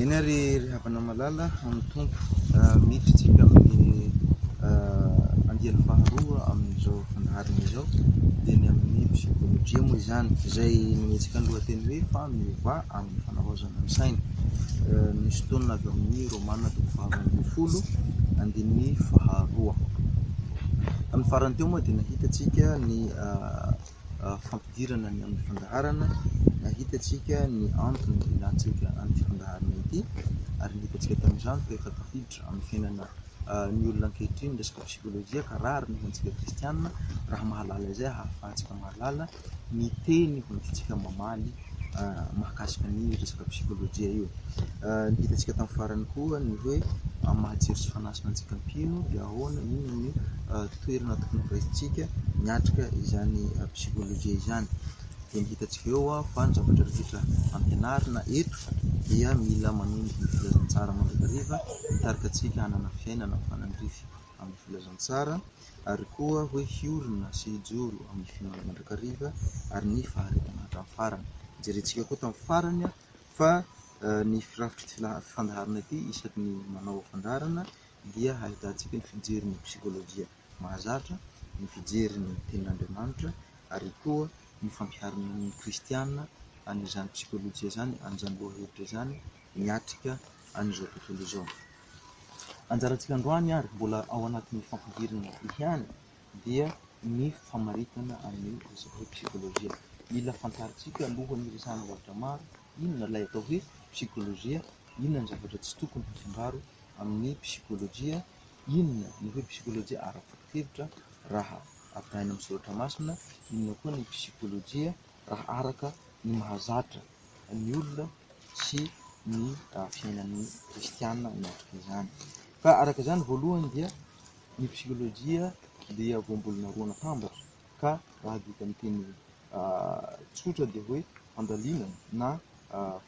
Eny ary ry havana malala amin'ny Tompo, miditra isika amin'ny andiany faharoa amin'izao fandaharana izao dia ny amin'ny psychologie moa izany izay nometsika ny lohateny hoe fa miova amin'ny fanavaozana ny saina. Misy tonona avy amin'ny Romana toko faha valo ambin'ny folo andininy faharoa. Tamin'ny farany teo moa dia nahitantsika ny fampidirana ny amin'ny fandaharana, hitantsika ny antony ilàntsika an'ity fandaharana ity ary ny hitantsika tamin'izany fa efa tafiditra amin'ny fiainana ny olona ankehitriny ny resaka psikôlôjia ka rariny ho antsika kristianina raha mahalala izay hahafahantsika mahalala ny teny hoentintsika mamaly. mahakasika ny resaka psikolojia io. Ny hitantsika tamin'ny farany koa ny hoe amin'ny maha jiro sy fanahy soa antsika mpino dia ahoana, inona no toerana tokony horaisintsika miatrika izany psikolojia izany. Dia ny hitantsika eo fa ny zavatra rehetra ampianarina eto dia mila manondro ny filazantsara mandrakariva hitarika antsika hanana fiainana mifanandrify amin'ny filazantsara. ary koa hoe hiorina sy hijoro amin'ny fihaonana mandrakariva ary ny faharetana hatramin'ny farany. Jerentsika koa tamin'ny farany fa ny firafitry ity fandaharana ity isaky ny manao fandaharana dia hahitantsika ny fijerin'ny psikolojia mahazatra, ny fijerin'ny tenin'Andriamanitra ary koa ny fampiharana ny kristiana an'izany psikolojia izany, an'izany lohahevitra izany miatrika an'izao tontolo izao. Anjarantsika androany ary mbola ao anatin'ny fampidirana ihany dia ny famaritana an'io resaka hoe psikolojia. Mila fantarintsika aloha ny resahana zavatra maro, inona ilay atao hoe psikolojia, inona ny zavatra tsy tokony hafangaro amin'ny psikolojia, inona ny hoe psikolojia ara-bokin-kevitra raha arahina amin'ny soratra masina, inona koa ny psikolojia. raha araka ny mahazatra ny olona sy ny fiainan'ny kristiana miatrika izany. Ka araka izany voalohany dia ny psikolojia dia voambolana roa natambatra ka raha adika amin'ny teny tsotra dia hoe fandalinana na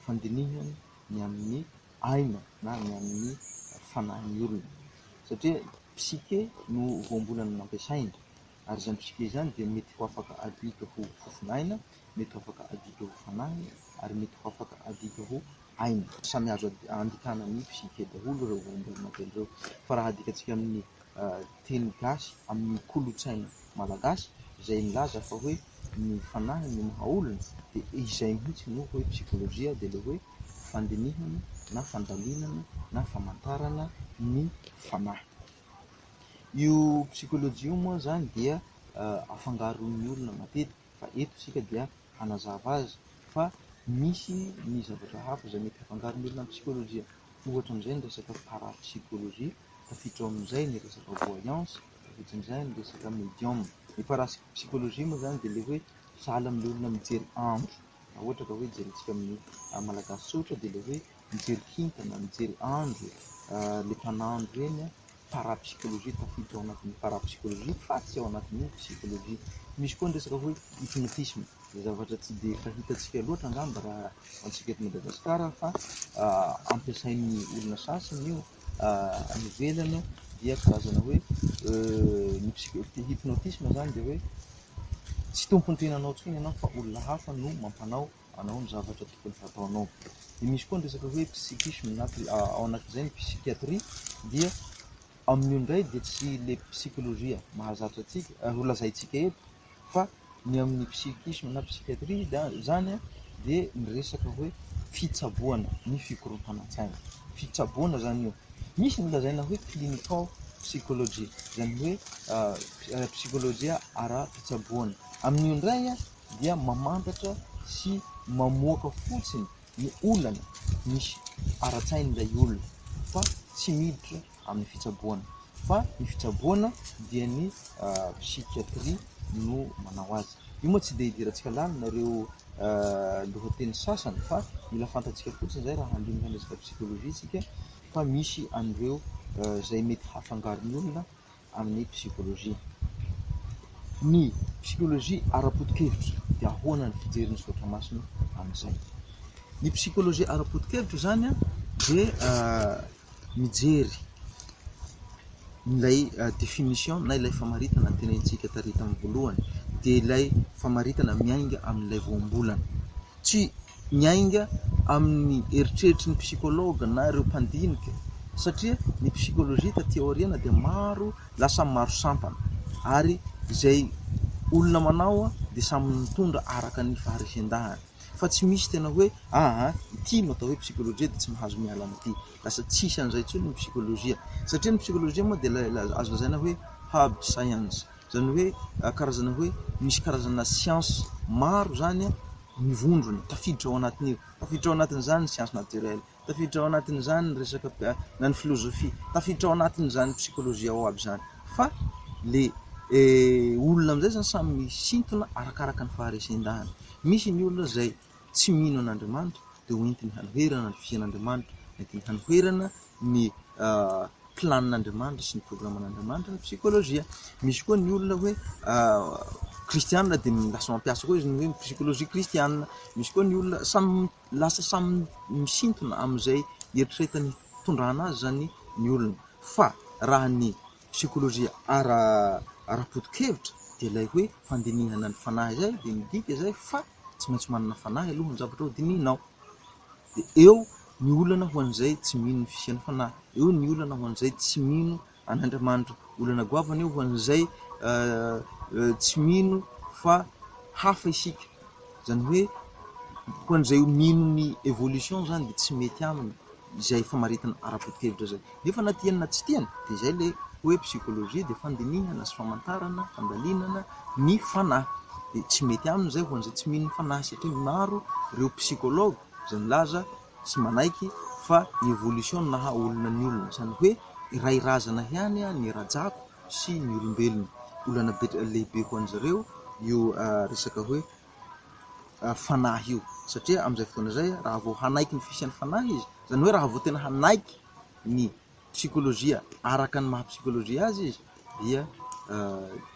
fandinihana ny amin'ny aina na ny amin'ny fanahin'ny olona satria psyche no voambolana nampiasaina ary izany fisiam-pe izany dia mety ho afaka adika ho fofonaina, mety ho afaka adika ho fanahy ary mety ho afaka adika ho aina. Samy azo andikana ny fisiam-fe daholo ireo ombim-bolomodely ireo fa raha adikantsika amin'ny teny gasy, amin'ny kolontsaina malagasy izay milaza fa hoe ny fanahy no maha olona dia izay mihitsy no hoe psikolojia dia ilay hoe fandinihana na fandalinana na famantarana ny fanahy. Io psychologie io moa izany dia afangaron'ny olona matetika fa eto isika dia hanazava azy fa misy ny zavatra hafa izay mety hafangaron'ny olona amin'ny psychologie. Ohatra amin'izay ny resaka parapsychologie, tafiditra ao amin'izay ny resaka voyance, tafiditra amin'izay ny resaka medium. Ny parapsychologie moa izany dia ilay hoe sahala amin'ilay olona mijery andro raha ohatra ka hoe jerentsika amin'ny Malagasy tsotra dia ilay hoe mijery kintana, mijery andro, letan'andro ireny parapsychologie, tafiditra ao anatin'ny parapsychologie fa tsy ao anatin'ny psychologie. Misy koa ny resaka hoe hypnotisme, izay zavatra tsy dia fahitantsika loatra angamba raha antsika eto Madagasikara fa ampiasain'ny olona sasany io any ivelany dia karazana hoe ny psy- ny hypnotisme izany dia hoe tsy tompon'ny tenanao intsony ianao fa olona hafa no mampanao Anao ny zavatra tokony hataonao. Dia misy koa ny resaka hoe psychisme na ao anatin'izay ny psychiatrie dia amin'io indray dia tsy le psikolojia mahazatra antsika ary ho lazaintsika eto fa ny amin'ny psychisme na psychiatrie izany dia ny resaka hoe fitsaboana ny fikorontanan-tsaina. Fitsaboana izany io. Misy ny lazaina hoe clinical psychology izany hoe ah, psikolojia ara-pitsaboana. Amin'io indray dia mamantatra sy mamoaka fotsiny ny olana misy ara-tsain'ilay olona fa tsy miditra amin'ny fitsaboana fa ny fitsaboana dia ny psychiatrie no manao azy. Io moa tsy dia idirantsika lalina ireo lohateny sasany fa mila fantatsika fotsiny izay raha handinika ny resaka psychologie isika fa misy an'ireo izay mety hahafangaro ny olona amin'ny psikôlôjia. Ny psikôlôjia ara-potokevitra dia ahoana ny fijerin'ny Soratra Masina amin'izay? Ny psikôlôjia ara-potokevitra izany dia mijery ilay définition na ilay famaritana notenenintsika tary tamin'ny voalohany, dia ilay famaritana miainga amin'ilay voambolana. Tsy miainga amin'ny eritreritry ny psychologue na ireo mpandinika satria ny psychologie taty aoriana dia maro lasa maro sampana ary izay olona manao aho dia samy mitondra araka ny faharesendahany fa tsy misy tena hoe aha ity no atao hoe psychologie dia tsy mahazo miala amin'ity lasa tsisy an'izay intsony ny psychologie satria ny psychologie moa dia ilay azo lazaina hoe hard science izany hoe karazana hoe misy karazana siansa maro izany mivondrona tafiditra ao anatin'io, tafiditra ao anatin'izany ny siansa natirely, tafiditra ao anatin'izany ny resaka na ny filozofia, tafiditra ao anatin'izany ny psikolojia ao aby izany fa le olona amin'izay izany samy misintona arakaraka ny faharesen-dahany, misy ny olona izay tsy mino an'Andriamanitra dia ho entiny hanoherana ny fiainan'Andriamanitra, entiny hanoherana ny plan'Andriamanitra sy ny programan'Andriamanitra ny psikology. Misy koa ny olona hoe kristiana dia lasa mampiasa koa izy ny hoe psikology kristiana, misy koa ny olona samy lasa samy misintona amin'izay eritreretiny hitondrana azy izany ny olona fa raha ny psikology ara-potokevitra dia ilay hoe fandinihana ny fanahy izay dia midika izay fa... tsy maintsy manana fanahy aloha ny zavatra ho dinihinao. Dia eo ny olana ho an'izay tsy mino ny fisian'ny fanahy, eo ny olana ho an'izay tsy mino an'Andriamanitra, olana goavana io ho an'izay tsy mino fa hafa isika, izany hoe ho an'izay mino ny evolution izany dia tsy mety aminy. izay famaritana ara-botevitra izay. Nefa na tiany na tsy tiany dia izay ilay hoe psychologie dia fandinihana sy famantarana, fandalinana ny fanahy. Dia tsy mety aminy izay ho an'izay tsy mino ny fanahy satria maro ireo psychologue izay milaza sy manaiky fa ny evolution no naha olona ny olona. Izany hoe iray razana ihany ny rajako sy ny olombelona. Olana be lehibe ho an'izareo io resaka hoe fanahy io satria amin'izay fotoana izay raha vao hanaiky ny fisian'ny fanahy izy, izany hoe raha vao tena hanaiky ny psikolojia araka ny maha psikolojia azy izy dia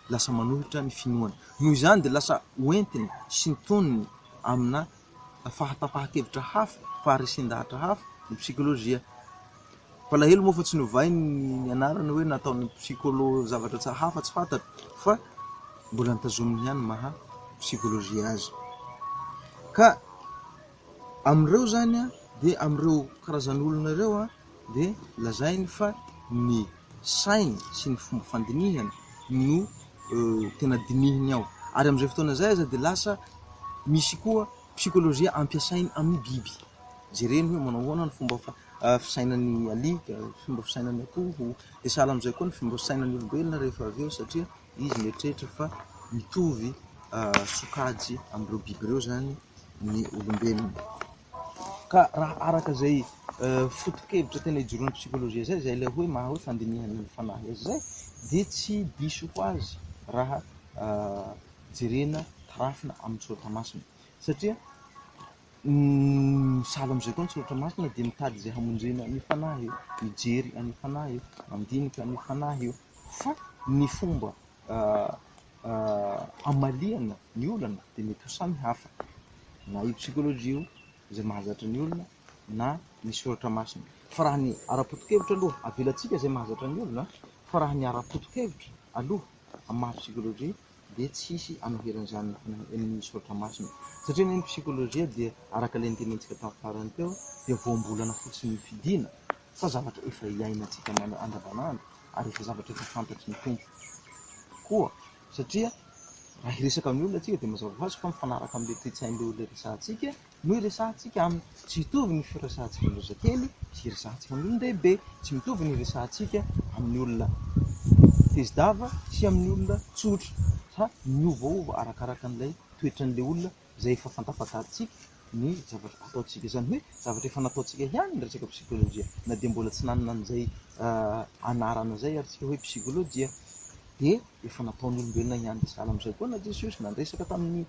lasa manohitra ny finoany. Noho izany dia lasa ho entiny sy ny toniny amina fahatapahan-kevitra hafa, faharesen-dahatra hafa ny psikolojia. Mpalahelo moa fa tsy novainy ny anarany hoe nataon'ny psycholo zavatra tsy hafa tsy fantany fa mbola notazominy ihany ny maha psychologie azy. Ka amin'ireo zany dia amin'ireo karazan'olona ireo dia lazainy fa ny sainy sy ny fomba fandinihany no tena dinihiny ao. Ary amin'izay fotoana izay aza dia lasa misy koa psychologie ampiasainy amin'ny biby. Jereny hoe manao ahoana ny fomba fisainan'i Ali, fomba fisainany akoho, dia sahala amin'izay koa ny fomba fisainan'ny olombelona rehefa avy eo satria izy mieritreritra fa mitovy sokajy amin'ireo biby ireo izany ny olombelona. Ka raha araka izay foto-kevitra tena ijoroan'ny psikôlôjia izay, izay ilay hoe maha hoe fandinihana ny fanahy azy izay, dia tsy diso ho azy raha jerena tarafina amin'ny soratra masina satria, Ny misahala amin'izay koa ny Soratra Masina dia mitady izay hamonjena an'io fanahy io, mijery an'io fanahy io, mandinika an'io fanahy io. Fa ny fomba hamaliana ny olana dia mety ho samy hafa, na io psychologie io izay mahazatra ny olona na ny Soratra Masina. Fa raha ny ara-potokevitra aloha, avelantsika izay mahazatra ny olona, fa raha ny ara-potokevitra aloha amin'ny maha-psychologie, dia tsy hisy hanoherana izany eny Misaotra masina satria ny psychologie dia araka ilay nitenentsika tamin'ny farany teo dia voambolana fotsiny ny fidina fa zavatra efa iainantsika andavanandro ary efa zavatra efa fantatry ny Tompo koa satria raha hiresaka amin'ny olona tsika dia mazava ho azy fa mifanaraka amin'ilay toe-tsain'ilay olona resahantsika no iresahantsika aminy. Tsy hitovy ny firesahantsika amin'ny zazakely sy iresahantsika amin'ny olon-dehibe. Tsy mitovy ny iresahantsika amin'ny olona tezi-dava sy amin'ny olona tsotra fa miovaova arakaraka an'ilay toetran'ilay olona izay efa fantafantarintsika ny zavatra ataontsika. Izany hoe zavatra efa nataontsika ihany ny resaka psikolojia na dia mbola tsy nanana an'izay anarana izay ary isika hoe psikolojia dia efa nataon'ny olombelona ihany dia sahala amin'izay koa na Jesosy na niresaka tamin'ny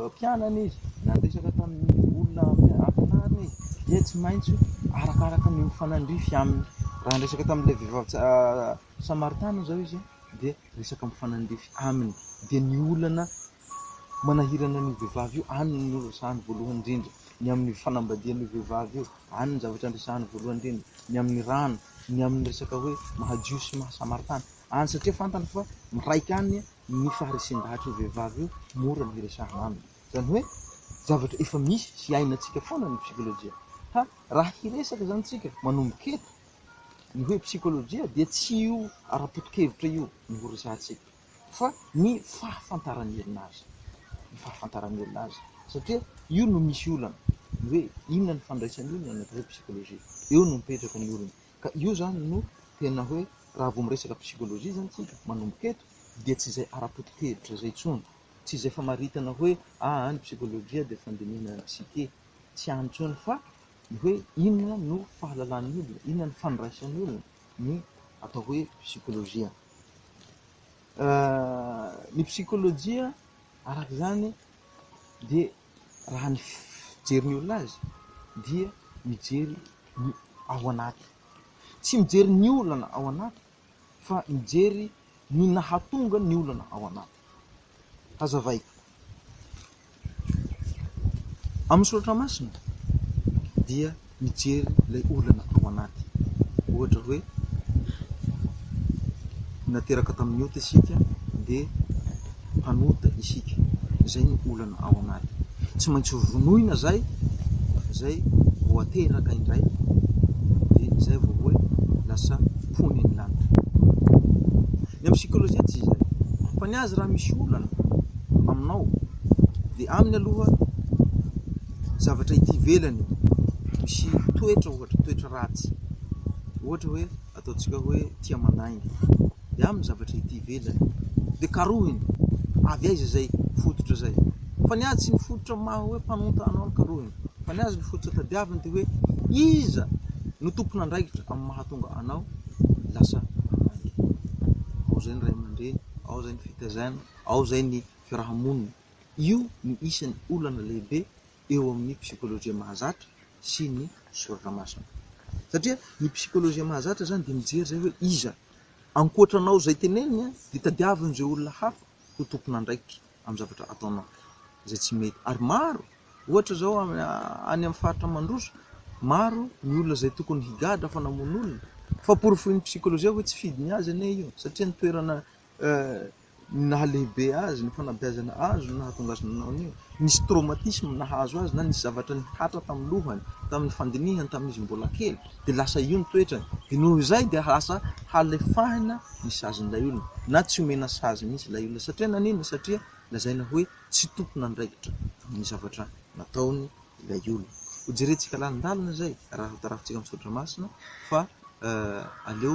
mpianany izy, na niresaka tamin'ny olona ampianariny izy, dia tsy maintsy arakaraka ny mifanandrify aminy. Raha niresaka tamin'ilay vehivavy samaritana izao izy, dia resaka mifanandrify aminy. Dia ny olana manahirana an'io vehivavy io, any no resahiny voalohany indrindra, ny amin'ny fanambadian'io vehivavy io, any no zavatra niresahiny voalohany indrindra, ny amin'ny rano, ny amin'ny resaka hoe maha-jiosy sy maha-samaritana. any satria fantany fa miraika any ny faharesen-dahatra io vehivavy io, mora ny hiresahana aminy. Izany hoe zavatra efa misy sy hainantsika foana ny psikolojia. Ka raha hiresaka izany isika manomboka eto, ny hoe psikolojia dia tsy io ara-poto-kevitra io no ho resahantsika fa ny fahafantaran'ny olona azy, ny fahafantaran'ny olona azy satria io no misy olana, ny hoe inona ny fandraisan'ny olona ny atao hoe psikolojia, eo no mipetraka ny olana. Ka io zany no tena hoe raha vao miresaka psychologie zany tsika manomboka eto dia tsy izay ara-pototehevitra izay intsony, tsy izay famaritana hoe aa ny psychologie dia fandinihana ny psyche, tsy any intsony fa ny hoe inona no fahalalan'ny olona, inona no fandraisan'ny olona ny atao hoe psychologie. Ny psychologie araka izany dia. raha ny fijery ny olona azy dia mijery ny ao anaty, tsy mijery ny olana ao anaty fa mijery ny nahatonga ny olana ao anaty. Hazavaiko, amin'ny soratra masina dia mijery ilay olana ao anaty. Ohatra hoe nateraka tamin'ny ota isika dia mpanota isika, izay ny olana ao anaty. Tsy maintsy vonoina izay izay vao ateraka indray dia izay vao hoe lasa mponin'ny lanitra. Ny amin'ny sikolojia tsy izay. Fa ny azy raha misy olana aminao dia aminy aloha zavatra ety ivelany misy toetra ohatra, toetra ratsy. Ohatra hoe ataontsika hoe tia mandainga. Dia amin'ny zavatra ety ivelany. Dia karohiny. Avy aiza izay fototra izay? Fa ny azy tsy ny fototra maha hoe mpanonta anao ny karohiny. Fa ny azy ny fototra tadiaviny dia hoe iza no tompon'andraikitra amin'ny mahatonga anao lasa mandainga. Ao izay ny ray aman-dreny, ao izay ny fitaizana, ao izay ny fiarahamonina. Io no isan'ny olana lehibe eo amin'ny psikôlôjia mahazatra sy ny soratra masina. Satria ny psikôlôjia mahazatra izany dia mijery izay hoe iza ankoatra anao izay teneniny dia tadiavin'izay olona hafa ho tompon'andraikitra amin'ny zavatra ataonao izay tsy mety. Ary maro, ohatra izao any amin'ny faritra mandroso, maro ny olona izay tokony higadra fa namono olona, fa porofoin'ny psikôlôjia hoe tsy fidiny azy anie io satria ny toerana Ny naha lehibe azy, ny fanabeazana azy no nahatonga azy nanao an'io. Nisy traumatisme nahazo azy na nisy zavatra nihatra tamin'ny lohany, tamin'ny fandinihany tamin'ny izy mbola kely dia lasa io ny toetrany. Dia noho izay dia lasa halefahina ny sazin'ilay olona na tsy omena sazy mihitsy ilay olona. Satria naninona? Satria lazaina hoe tsy tompon'andraikitra ny zavatra nataony ilay olona. Hojerentsika lalindalina izay raha hotarafitsika amin'ny soratra masina fa aleo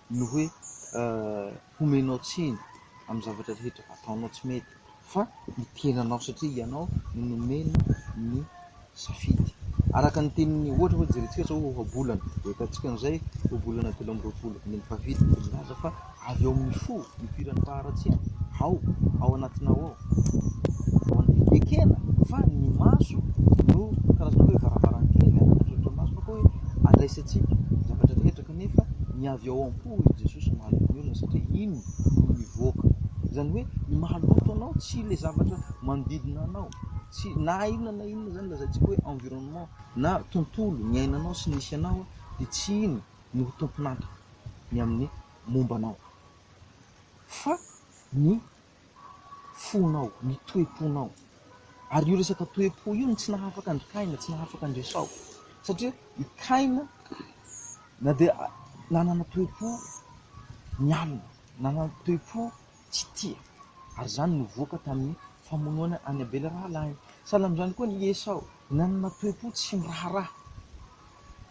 ny hoe homenao tsiny amin'ny zavatra rehetra ataonao tsy mety fa ny tenanao satria ianao no nomena ny safidy. Araka ny tenin'ny ohatra hoe jerentsika zao ohabolana de ahitantsika an'izay ohabolana telo amby roapolo ny an'ny mpavidy de milaza fa avy ao amin'ny fo nipoiran'ny faharatsiana ao ao anatinao ao ekena fa ny maso no karazana hoe varavarankely andraisantsika zavatra rehetra Kanefa ny avy ao am-po hoy Jesosy no mahaloto ny olona satria iny no mivoaka. Izany hoe ny mahaloto anao tsy ilay zavatra manodidina anao, tsy na inona na inona izany lazaintsika hoe environnement na tontolo niainanao sy nisy anao dia tsy iny no ho tompon'antoka ny amin'ny momba anao fa ny fonao, ny toe-ponao. Ary io resaka toe-po io no tsy nahafaka an-dry Kaina, tsy nahafaka an-dry Esao. Satria i Kaina na dia nanana toe-po nialona, nanana toe-po tsy tia. Ary izany no voaka tamin'ny famonoana an'i Abela rahalahiny. Sahala amin'izany koa i Esao, nanana toe-po tsy miraharaha.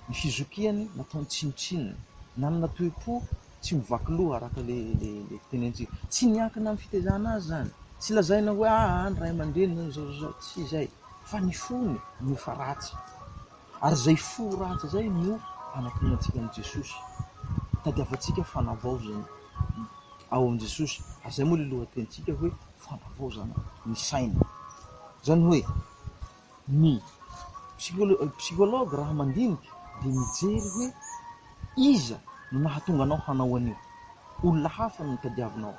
ny fizokiany nataony tsinontsinona, nanana toe-po tsy mivaky loha araka ilay fitenentsika. Tsy miankina amin'ny fitaizana azy izany, tsy lazaina hoe aa ny ray aman-dreny izao izao izao, tsy izay, fa ny fony no efa ratsy. Ary izay fo ratsy izay no anantonantsika an'i Jesosy, tadiavantsika fanavaozana ao amin'i Jesosy, ary izay moa ilay lohatenintsika hoe fanavaozana ny saina. Izany hoe. ny psychologue raha mandinika dia mijery hoe iza no nahatonga anao hanao an'io, olona hafa no tadiavinao,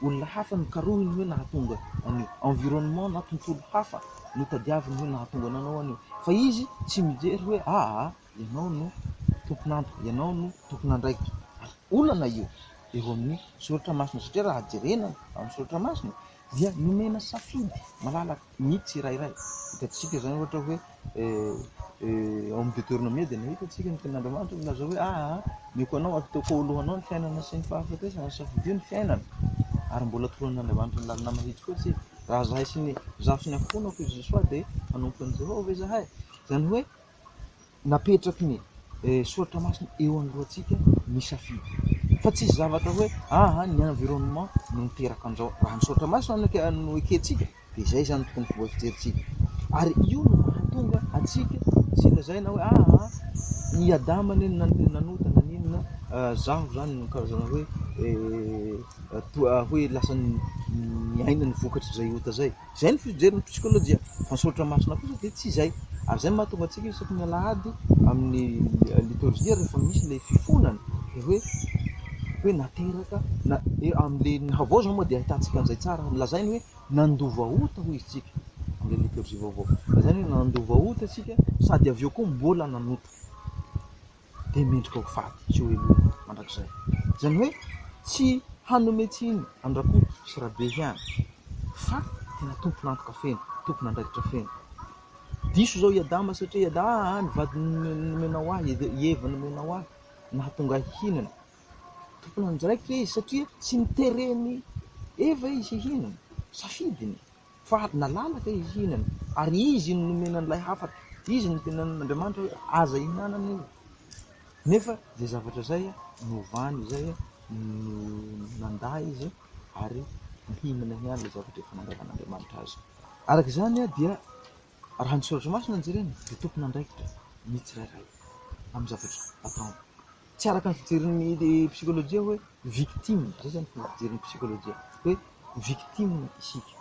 olona hafa no karohiny hoe nahatonga an'io, environnement na tontolo hafa no tadiaviny hoe nahatonga anao nanao an'io, fa izy tsy mijery hoe aa ianao no tompon'antoka, ianao no tompon'andraikitra, ary olana io eo amin'ny soratra masina satria raha jerena amin'ny soratra masina dia nomena safidy malalaka ny tsirairay. Hitantsika izany ohatra hoe ao amin'ny Deteronomia dia nahita isika ny tenin'Andriamanitra milaza hoe aa omeko anao ataoko ho lohanao ny fiainana sy ny fahafatesana, safidio ny fiainana ary mbola toran'Andriamanitra ny lalana mahitsy koa isika raha izahay sy ny zaho sy ny ankohonako i Josoa dia hanompo an'i Jehovah ve izahay? Izany hoe napetraky ny soratra masina eo anoloantsika ny safidy. Fa tsy hisy zavatra hoe aha ny environnement no miteraka an'izao. Raha ny soratra masina no eke- no ekentsika dia izay izany no tokony fomba fijerintsika. Ary io no mahatonga antsika tsy lazaina hoe aha i Adama anie no nan- nanota naninona ah, zaho izany no karazana hoe eh, toa hoe lasa ny ny aina no vokatr'izay ota izay. Izay ny fijery ny psikôlôjia. Fa ny soratra masina kosa dia tsy izay. Ary izay no mahatonga antsika isaky ny alahady amin'ny litorjia rehefa misy ilay fifonana dia hoe hoe nateraka na amin'ilay ny havao izao moa dia ahitantsika an'izay tsara lazainy hoe nandova ota hoy isika amin'ilay litorjia vaovao. Lazainy hoe nandova ota isika sady avy eo koa mbola nanota. dia mendrika ho faty tsy ho heloina mandrakizay. Izany hoe tsy hanome tsiny an'i Rakoto sy Rabe ihany fa tena tompon'antoka feno, tompon'andraikitra feno. Diso izao i Adama satria i Adama ah, ah, ny vadiny nomenao ahy, i Eva nomenao ahy, nahatonga ahy hihinana. Tompon'andraikitra izy satria tsy nitereny Eva izy hihinana, safidiny. Fa ady nalalaka izy hihinana, ary izy no nomena an'ilay hafatra. Izy no nitenenan'Andriamanitra hoe, Aza ihinanana io. Nefa izay zavatra izay novany izay no nandà izy ary nihinana ihany ilay zavatra efa nangalan'Andriamanitra azy. Araka izany dia raha ny Soratra Masina no jerena dia tompon'andraikitra ny tsirairay amin'ny zavatra ataony. Tsy araka ny fijerin'ny psikolojia hoe victime, izay izany fomba fijerin'ny psikolojia, hoe victime isika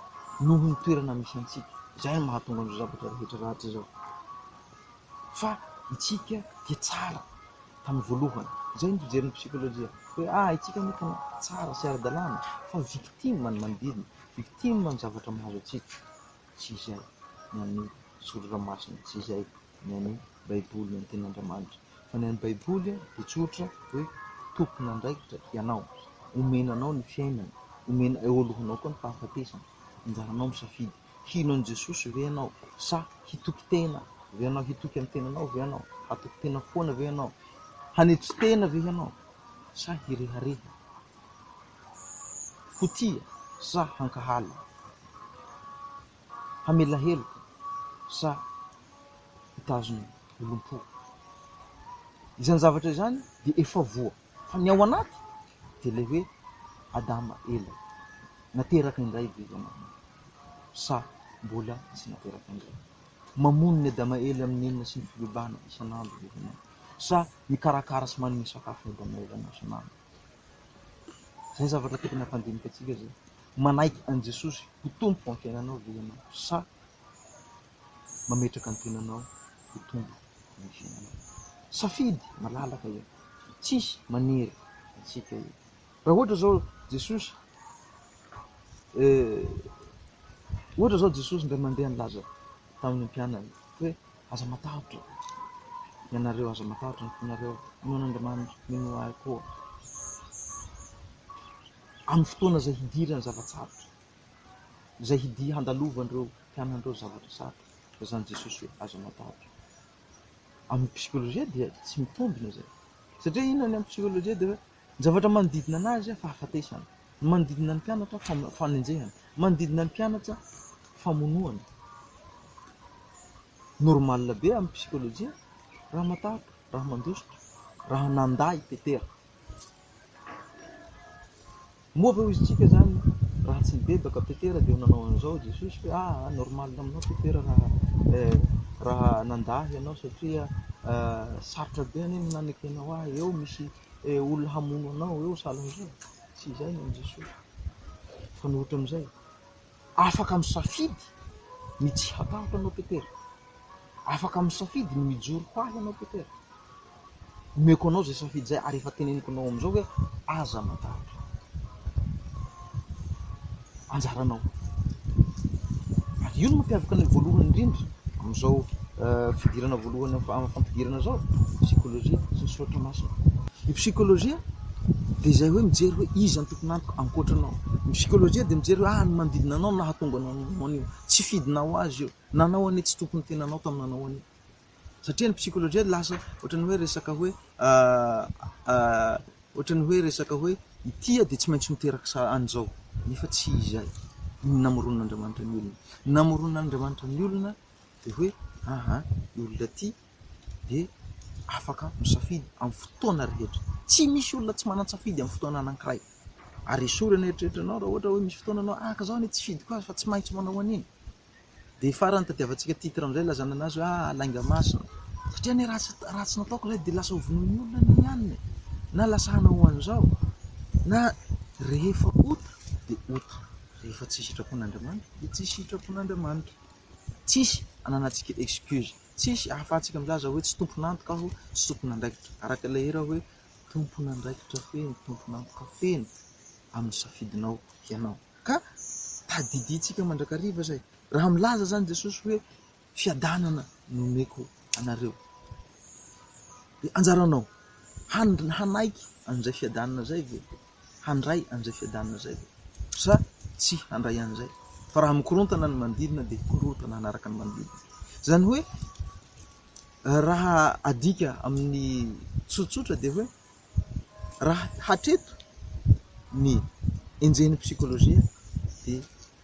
noho ny toerana misy antsika, izay no mahatonga an'izao zavatra rehetra ratsy izao, fa itsika dia tsara tamin'ny voalohany, izay ny fijerin'ny psikolojia, hoe ah itsika anie tena tsara sy ara-dalàna, fa victime ny manodidina, victime ny zavatra mahazo antsika, tsy izay ny an'ny Soratra Masina, tsy izay. ny an'ny Baiboly, ny an'ny Tenin'Andriamanitra. Fa ny an'ny Baiboly dia tsotra hoe tompon'andraikitra ianao, omena anao ny fiainana, omena eo alohanao koa ny fahafatesana, anjaranao misafidy, hino an'i Jesosy ve ianao sa hitoky tena ve ianao, hitoky amin'ny tenanao ve ianao, hatoky tena foana ve ianao, hanetry tena ve ianao sa hirehareha, ho tia sa hankahala. Hamela heloka sa hitazona olom-po? Izany zavatra izany dia efa voa, fa ny ao anaty dia ilay hoe Adama ela. Nateraka indray ve ianao sa mbola tsy nateraka indray? Mamono ny Adama ela amin'ny inona sy ny fibebahana isan'andro ve ianao sa mikarakara sy manome sakafo ny Adama elanao isan'andro? Izay zavatra tokony hampandinika antsika izay. Manaiky an'i Jesosy ho Tompo amin'ny fiainanao ve ianao sa mametraka ny tenanao ho Tompo amin'ny fiainanao? Safidy malalaka io. Tsisy manery antsika io. Raha ohatra izao Jesosy eh, ohatra izao Jesosy indray mandeha nilaza tamin'ny mpianany hoe Aza matahotra ianareo, aza matahotra ny fonareo, inoana Andriamanitra, minoa Ahy koa. Amin'ny fotoana izay hidirany zava-tsarotra, izay hidy handalovan'ireo mpianan'ireo zavatra sarotra, dia izany Jesosy hoe aza matahotra. Amin'ny psikolojia dia tsy mitombina izay. Satria inona ny amin'ny psikolojia dia hoe Ny zavatra manodidina anazy, fahafatesana. Ny manodidina ny mpianatra, fanenjehana. Ny manodidina ny mpianatra, famonoana. Normal be amin'ny psikology raha matahotra, raha mandositra, raha nandà i Petera. Moa ve ho izy tsika zany raha tsy nibebaka Petera dia ho nanao an'izao Jesosy hoe ah ah normal aminao Petera raha eh raha nandà ianao satria eh sarotra be anie ny nanaky anao ah eo misy eh olona hamono anao eo sahalan'izao? Tsy izay ny an'i Jesosy fa ny ohatran'izay. Afaka misafidy ny tsy hatahotra anao Petera. Afaka misafidy ny mijoro ho ahy ianao Petera. Omeko anao izay safidy izay ary efa teneniko anao amin'izao hoe aza matahotra. Anjaranao. Ary io no mampiavaka ny voalohany indrindra amin'izao eh, fidirana voalohany amin'ny fampidirana izao, psikologia sy ny soratra masina. Ny psikologia de izay hoe mijery hoe iza ny tompon'antoka ankoatra anao, ny psychologie de mijery hoe ah ny manodidina anao no nahatonga anao nanao an'io, tsy fidinao azy io, nanao anie tsy tokony tenanao tamy nanao an'io, satria ny psychologie lasa ohatran'ny hoe resaka hoe ohatran'ny hoe resaka hoe ity de tsy maintsy miteraka sa- an'izao, nefa tsy izay ny namoronan'Andriamanitra ny olona, ny namoronan'Andriamanitra ny olona de hoe aha io olona ty dia afaka misafidy amin'ny fotoana rehetra. Tsy misy olona tsy manan-tsafidy amin'ny fotoana anankiray. Ary esory ny eritreritranao raha ohatra hoe misy fotoana anao ah ka izao anie tsy fidiko azy fa tsy maintsy manao an'iny. Dia farany tadiavantsika titre amin'izay ilazanana azy hoe ah lainga masina. Satria anie raha tsy raha tsy nataoko ilay dia lasa hovonoin'ny olona anie ny anona e! na lasa hanao an'izao na rehefa ota dia ota, rehefa tsy sitrapon'Andriamanitra dia tsy sitrapon'Andriamanitra. Tsisy ananantsika excuse. Tsisy ahafahantsika milaza hoe tsy tompon'antoka aho, tsy tompon'andraikitra. Araka ilay hira hoe, tompon'andraikitra feno, tompon'antoka feno amin'ny safidinao ianao. Ka tadidiantsika mandrakariva izay. Raha milaza izany Jesosy hoe, fiadanana no omeko anareo. Dia anjaranao, hanaiky an'izay fiadanana izay ve? handray an'izay fiadanana izay ve sa tsy handray an'izay? Fa raha mikorontana ny manodidina dia korontana hanaraka ny manodidina. Izany hoe raha adika amin'ny tsotsotra dia hoe raha hatreto ny enjehin'ny psikolojia dia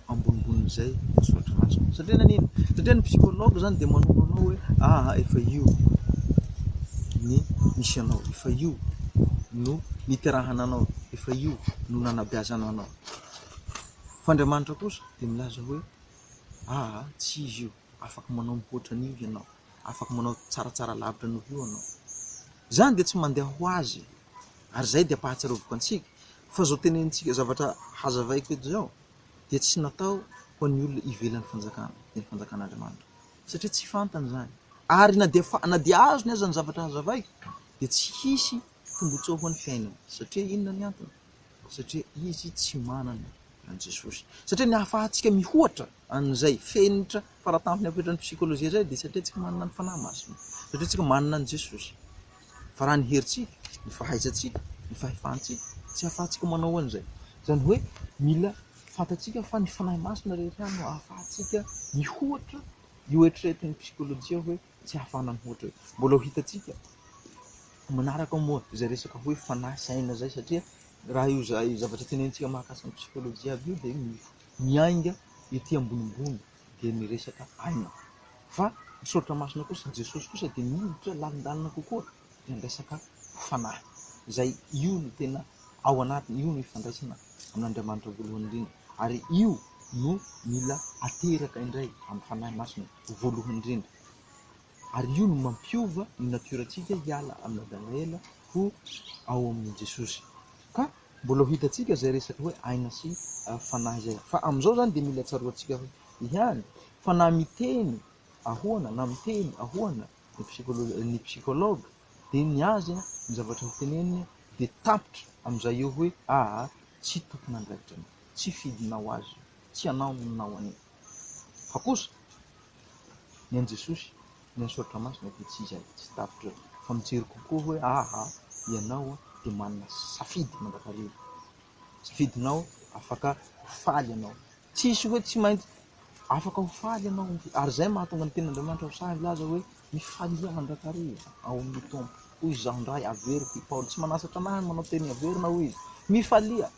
ambonimbonin'izay voasoratra anazy ao. Satria nanino? Satria ny psychologue zany dia manoro anao hoe aha efa io ny misy anao, efa io no niterahana anao, efa io no nanabeazana anao. Fa Andriamanitra kosa dia milaza hoe aha tsy izy io, afaka manao mihoatra an'io ianao, afaka manao tsaratsara lavitra noho io ianao. Zany dia tsy mandeha ho azy. ary izay dia ampahatsiaroviko antsika fa izao tenenintsika zavatra hazavaiko eto izao dia tsy natao ho an'ny olona ivelan'ny fanjakana dia ny fanjakan'Andriamanitra satria tsy fantany izany ary na dia fa- na dia azony aza ny zavatra hazavaiko dia tsy hisy tombontsoa ho an'ny fiainana satria inona ny antony satria izy tsy manana an'i Jesosy. Satria ny ahafahantsika mihoatra an'izay fenitra faratampony ampitran'ny psikolojia izay dia satria tsika manana ny fanahy masina, satria tsika manana an'i Jesosy. Fa raha ny herintsika, ny fahaizantsika, ny fahefantsika, tsy ahafahantsika manao an'izay. Izany hoe mila fantatsika fa ny fanahy masina rehetra no ahafahantsika mihoatra io eritreretin'ny psikolojia hoe. tsy hafana mihoatra io. Mbola ho hitantsika manaraka moa izay resaka hoe fanahy sy aina izay satria raha io zavatra tenenitsika mahakasika ny psikology aby io dia miainga ety ambonimbony dia ny resaka aina. Fa ny soratra masina kosa, Jesosy kosa dia miditra lalindalina kokoa. dia ny resaka fanahy, izay io no tena ao anatiny, io no ifandraisana amin'Andriamanitra voalohany indrindra, ary io no mila ateraka indray amin'ny Fanahy Masina voalohany indrindra, ary io no mampiova ny natiora-tsika hiala amin'ny Adama ela ho ao amin'i Jesosy. Ka mbola ho hitantsika izay resaka hoe aina sy fanahy izay, fa amin'izao izany dia mila tsaroantsika ihany fa na miteny ahoana na miteny ahoana ny psychologue ny psychologue de ny azy a ny zavatra noteneniny de tapitra amin'izay eo hoe aa tsy tompon'andraikitra anao tsy fidinao azy io tsy anao no nanao an'io fa kosa ny an'i jesosy ny an'i soratra masina de tsy izay tsy tapitra eo fa mijery kokoa hoe aa ianao de manana safidy mandrakariva safidinao afaka ho faly ianao Tsisy hoe tsy maintsy afaka ho faly ianao, ary izay no mahatonga ny Tenin'Andriamanitra ho sahy milaza hoe, Mifalia mandrakariva ao amin'ny Tompo, hoy izaho indray, averiko i Paoly. Tsy manasatra anahy ny manao teny averina, hoy izy. Mifalia,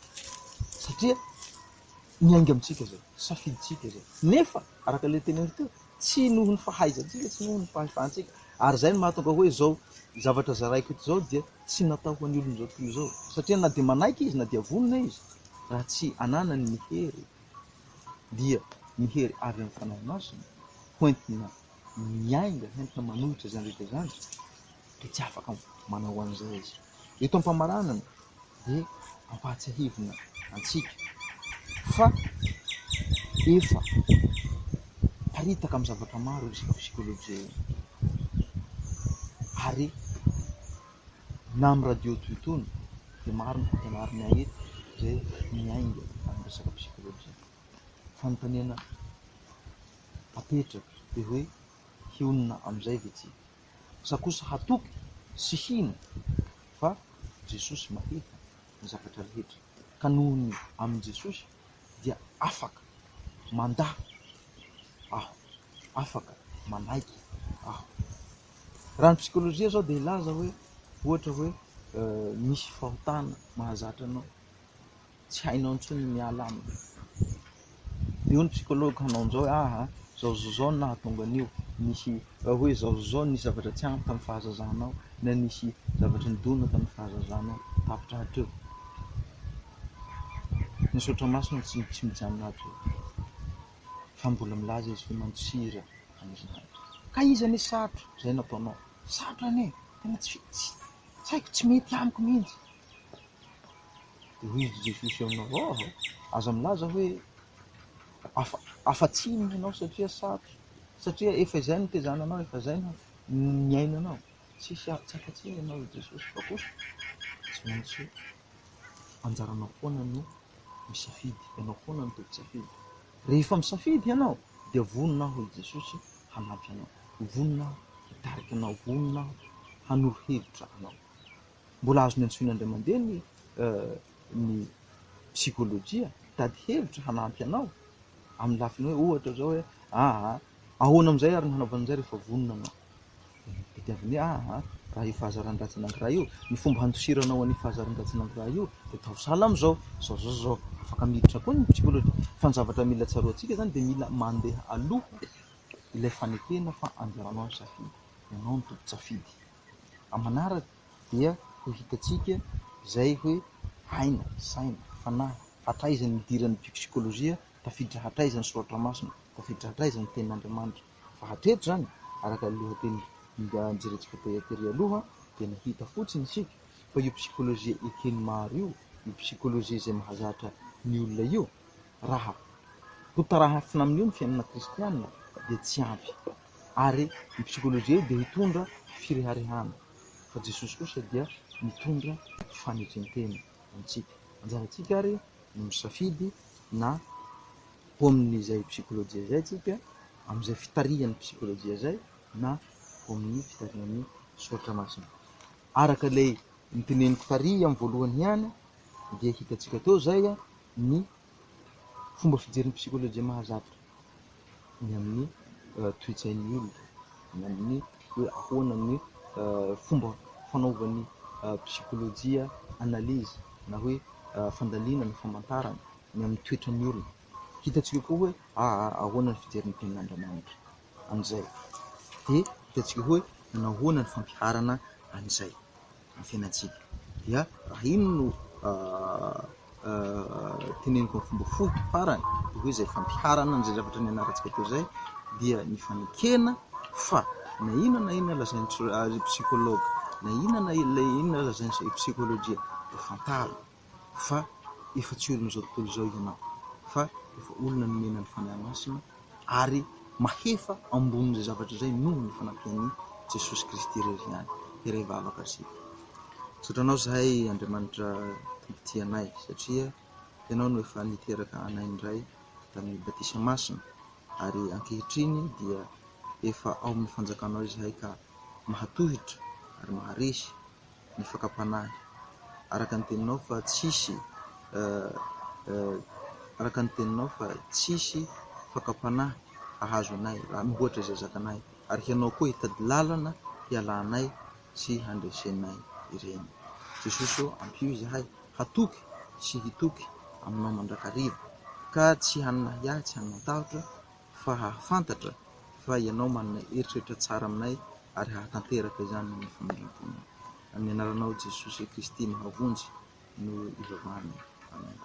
satria miainga amintsika izay, safidintsika izay. Nefa, araka ilay teneniko teo, tsy noho ny fahaizantsika, tsy noho ny fahefantsika. Ary izay no mahatonga hoe izao zavatra zaraiko eto izao dia Tsy natao ho an'ny olon'izao tontolo izao, satria na dia manaiky izy na dia vonona izy, raha tsy ananany ny hery, dia ny hery avy amin'ny Fanahy Masina, hoentina miainga, hoentina manohitra izany rehetra izany, dia tsy afaka manao an'izay izy. Eto am-pamaranana dia ampahatsiahivina antsika fa efa miparitaka amin'ny zavatra maro resaka psikology io ary na amin'ny radio toy itony dia maro ny fampianarana eto izay miainga amin'ny resaka psikology. Fanontaniana apetraka dia hoe hionona amin'izay ve tsika? Aza kosa hatoky sy hino fa Jesosy mahita ny zavatra rehetra ka noho ny amin'i Jesosy dia afaka mandà aho, afaka manaiky aho. Raha ny psikolojia zao dia hilaza hoe ohatra hoe misy fahotana mahazatra anao. tsy hainao intsony ny miala aminy. Dia hoy ny psychologue hanao an'izao hoe ah, izao izao izao no nahatonga an'io, nisy raha hoe izao izao izao nisy zavatra tsy ampy tamin'ny fahazazanao na nisy zavatra nidona tamin'ny fahazazanao tapitra hatreo. Misaotra masina tsy tsy mijanona hatreo. Fa mbola milaza izy hoe mantsira an'izany. Ka izy anie sarotra izay nataonao. Sarotra anie, tena tsy tsy tsy haiko tsy mety amiko mihitsy. Rudy Jesosy aminao ao aho, aza milaza hoe afa afa-tsiny ianao satria sarotra, satria efa izay no tezananao, efa izay no niainanao, tsisy a- tsy afa-tsiny ianao i Jesosy fa kosa tsy maintsy anjaranao foana no misafidy, ianao foana no tompo-tsafidy. Rehefa misafidy ianao dia vonona aho i Jesosy hanampy anao, vonona aho hitarika anao, vonona aho hanoro hevitra anao. Mbola azony antsoina indray mandeha ny ny psikolojia mitady hevitra hanampy anao amin'ny lafiny hoe ohatra zao hoe aa ahoana amin'izay ary ny hanaovana an'izay rehefa vonona anao. Tadiaviny hoe aa raha io fahazaran-dratsy anankiray io, ny fomba handosiranao an'io fahazaran-dratsy anankiray io dia ataovy sahala amin'izao, zao zao zao. Afaka miditra koa ny psikolojia fa ny zavatra mila tsaroantsika zany dia mila mandeha aloha ilay fanekena fa anjaranao ny safidy, ianao no tompon-tsafidy. amin'ny manaraka dia ho hitantsika izay hoe aina, saina, fanahy, hatraiza ny idiran'ny psikôlôjia, tafiditra hatraiza ny soratra masina, tafiditra hatraiza ny tenin'Andriamanitra. Fa hatreto izany, araka ny lohateny nijerentsika tery aloha, dia ny hita fotsiny isika fa io psikôlôjia eken'ny maro io, io psikôlôjia izay mahazatra ny olona io, raha hotarafina amin'io ny fiainana kristianina, dia tsy ampy. ary ny psikology dia hitondra fireharehana fa Jesosy kosa dia mitondra fanekentena ho antsika. Anjarantsika ary ny misafidy na ho amin'izay psikology izay tsika, amin'izay fitarihan'ny psikology izay na ho amin'ny fitarihan'ny soratra masina. Araka ilay noteneniko tary amin'ny voalohany ihany dia hitantsika teo izay ny fomba fijerin'ny psikolojia mahazatra ny amin'ny toe-tsain'ny olona, ny amin'ny hoe ahoana ny fomba fanaovan'ny psikolojia analyse na hoe fandalina na famantarana ny amin'ny toetran'ny olona. Hitantsika koa hoe ahoana ny fijerin'ny tenin'Andriamanitra. amin'izay. Dia hitantsika hoe manahoana ny fampiharana an'izay amin'ny fiainantsika. Dia raha iny no teneniko amin'ny fomba fohy farany dia hoe izay fampiharana an'izay zavatra nianarantsika teo izay dia ny fanekena fa na inona na inona lazain'ny ry psychologue, na inona na inona lazain'ny psychologie dia fantaro. fa efa tsy olon'izao tontolo izao ianao, fa efa olona nomena ny Fanahy Masina ary mahefa ambonin'izay zavatra izay noho ny fanampian'i Jesosy Kristy irery ihany. Iray vavaka sy misaotra anao zahay Andriamanitra Tompo tia anay satria ianao no efa niteraka anay indray tamin'ny batisa masina ary ankehitriny dia efa ao amin'ny fanjakanao izahay ka mahatohitra ary maharesy ny fakam-panahy. Araka ny teninao fa tsisy araka ny teninao fa tsisy fakam-panahy hahazo anay raha mihoatra izay zakanay ary hianao koa hitady lalana hialanay sy handresenay ireny. Jesosy ô, ampio izahay hatoky sy hitoky aminao mandrakariva ka tsy hanana ahiahy, tsy hanana tahotra, fa hahafantatra fa Ianao manana eritreritra tsara aminay ary hahatanteraka izany amin'ny famelan-ponao. Amin'ny Anaranao Jesosy Kristy mahavonjy no ivavahana. Amena.